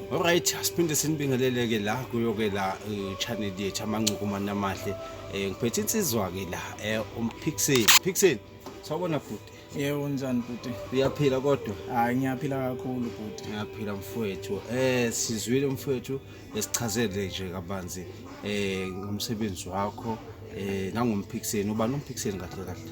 Alright, asiphinde sinibingeleleke la kuyoke la channel yethu amancuku manamahle. Eh ngiphethe insizwa ke la eh umpixel. Pixel. Sawubona bhuti. Yebo unjani bhuti? Uyaphila kodwa? Hayi ngiyaphila kakhulu bhuti. Ngiyaphila mfowethu. Eh sizwile mfowethu esichazele nje kabanzi eh ngomsebenzi wakho eh nangompixel ubani umpixel kahle kahle.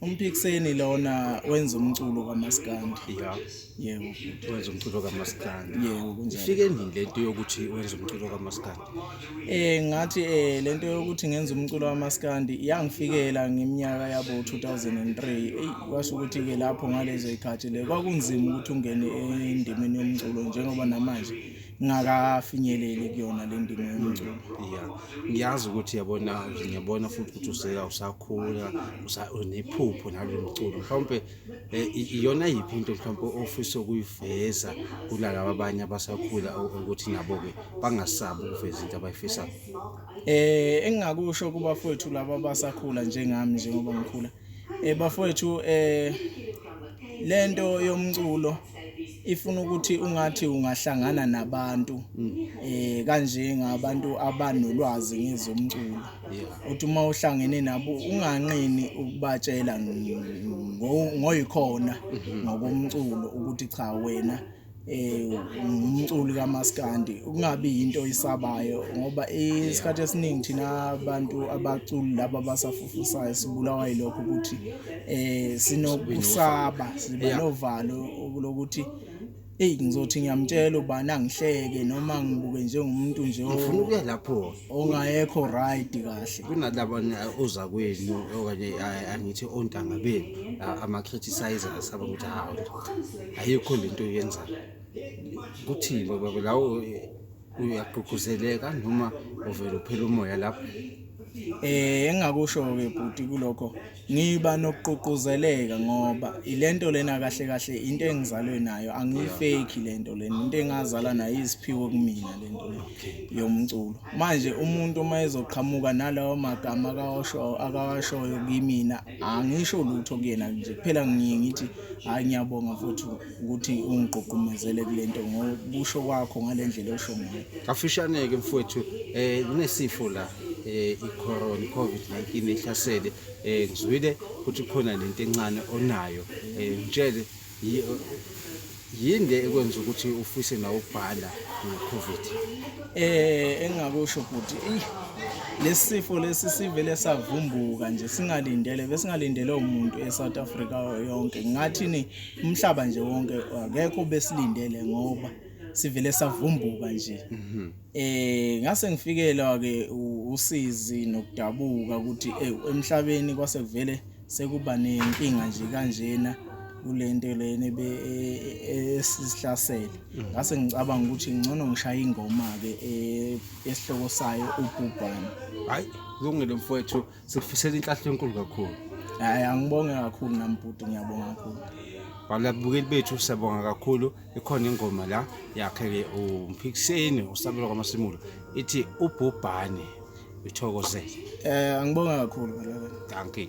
Umphikiseni lona wenza umculo kaMaskandi. Yeah. Yebo. Wenza umculo kaMaskandi. Yebo kunjalo. Ifike nini lento yokuthi wenza umculo kaMaskandi? Eh ngathi eh lento yokuthi ngenza umculo kaMaskandi yangifikela ngeminyaka yabo 2003. Ey kwasho ukuthi ke lapho ngalezo ikhathi le kwakunzima ukuthi ungene endimeni yomculo njengoba namanje ngakafinyeleli kuyona le ndima yomculo ya ngiyazi ukuthi yabona ngiyabona futhi ukuthi useka usakhula usa- unephupho nalo mculo mhlawumpe eh, i- iyona yiphi into mhlawumpe ofisa ukuyiveza kunalaba abanye abasakhula u- ukuthi nabo-ke bangasabi ukuveza into abayifisayo eh engingakusho kuba fethu laba abasakhula njengami njengoba ngikhula eh bafowethu eh lento yomculo ifuna ukuthi ungathi ungahlangana nabantu eh kanje ngabantu abanolwazi ngezomculo uthi uma uhlangene nabo unganqini ukubatshela ngoyikhona ngokomculo ukuthi cha wena eh umculi kamaskandi ukungabi into isabayo ngoba isikhathi esiningi thina abantu abaculi laba basafufusayo sibulawa yilokho ukuthi eh sinokusaba sibe novalo lokuthi eyi ngizothi ngiyamtshela ubani angihleke noma ngibuke njengomuntu nje ofuna ukuya lapho ongayekho right kahle kunalabo oza kwenu okanye angithi ontanga benu ama-criticizers abakuthi hawu ayikho le nto yenzayo kuthini baba lawo uyagqugquzeleka noma uvele uphela umoya lapho um engingakusho-ke bhuti kulokho Ngiba nokugqugquzeleka ngoba ilento lena kahle kahle into engizalwe nayo angiyifeki lento lena into engazala nayo iziphiwo kumina lento le yomculo manje umuntu uma ezoqhamuka nalawo magama akawasho akawashoyo kimina angisho lutho kuyena nje kuphela ngiye ngithi hayi ngiyabonga futhi ukuthi ungigqugqumezele kule nto ngokusho kwakho ngale ndlela osho ngayo kafishane-ke mfowethu um kunesifo la eh icorona iCovid-19 ehlasele eh ngizwile ukuthi khona lento encane onayo eh ngitshele yinde ekwenza ukuthi ufise nawo ubhala ngoCovid eh engakusho ukuthi lesifo lesi sivele savumbuka nje singalindele besingalindele umuntu eSouth Africa yonke ngathi ni umhlaba nje wonke akekho besilindele ngoba sivele savumbuka nje mhm. eh ngase ngifikelwa ke usizi nokudabuka ukuthi eh, emhlabeni kwase kuvele sekuba nenkinga nje kanjena kulento lena e, e, esihlasele mhm. ngase ngicabanga ukuthi ngcono ngishaya ingoma ke e, esihloko sayo ubhubhane hayi kulungile mfowethu sikufisela inhlahla enkulu kakhulu hayi angibonge kakhulu nami bhuti ngiyabonga kakhulu balabukeli bethu siyabonga kakhulu ikhona ingoma la yakhe-ke umphikiseni usabelo kwamasimulo ithi ubhubhane ithokozele um angibonga kakhulu balabela dankie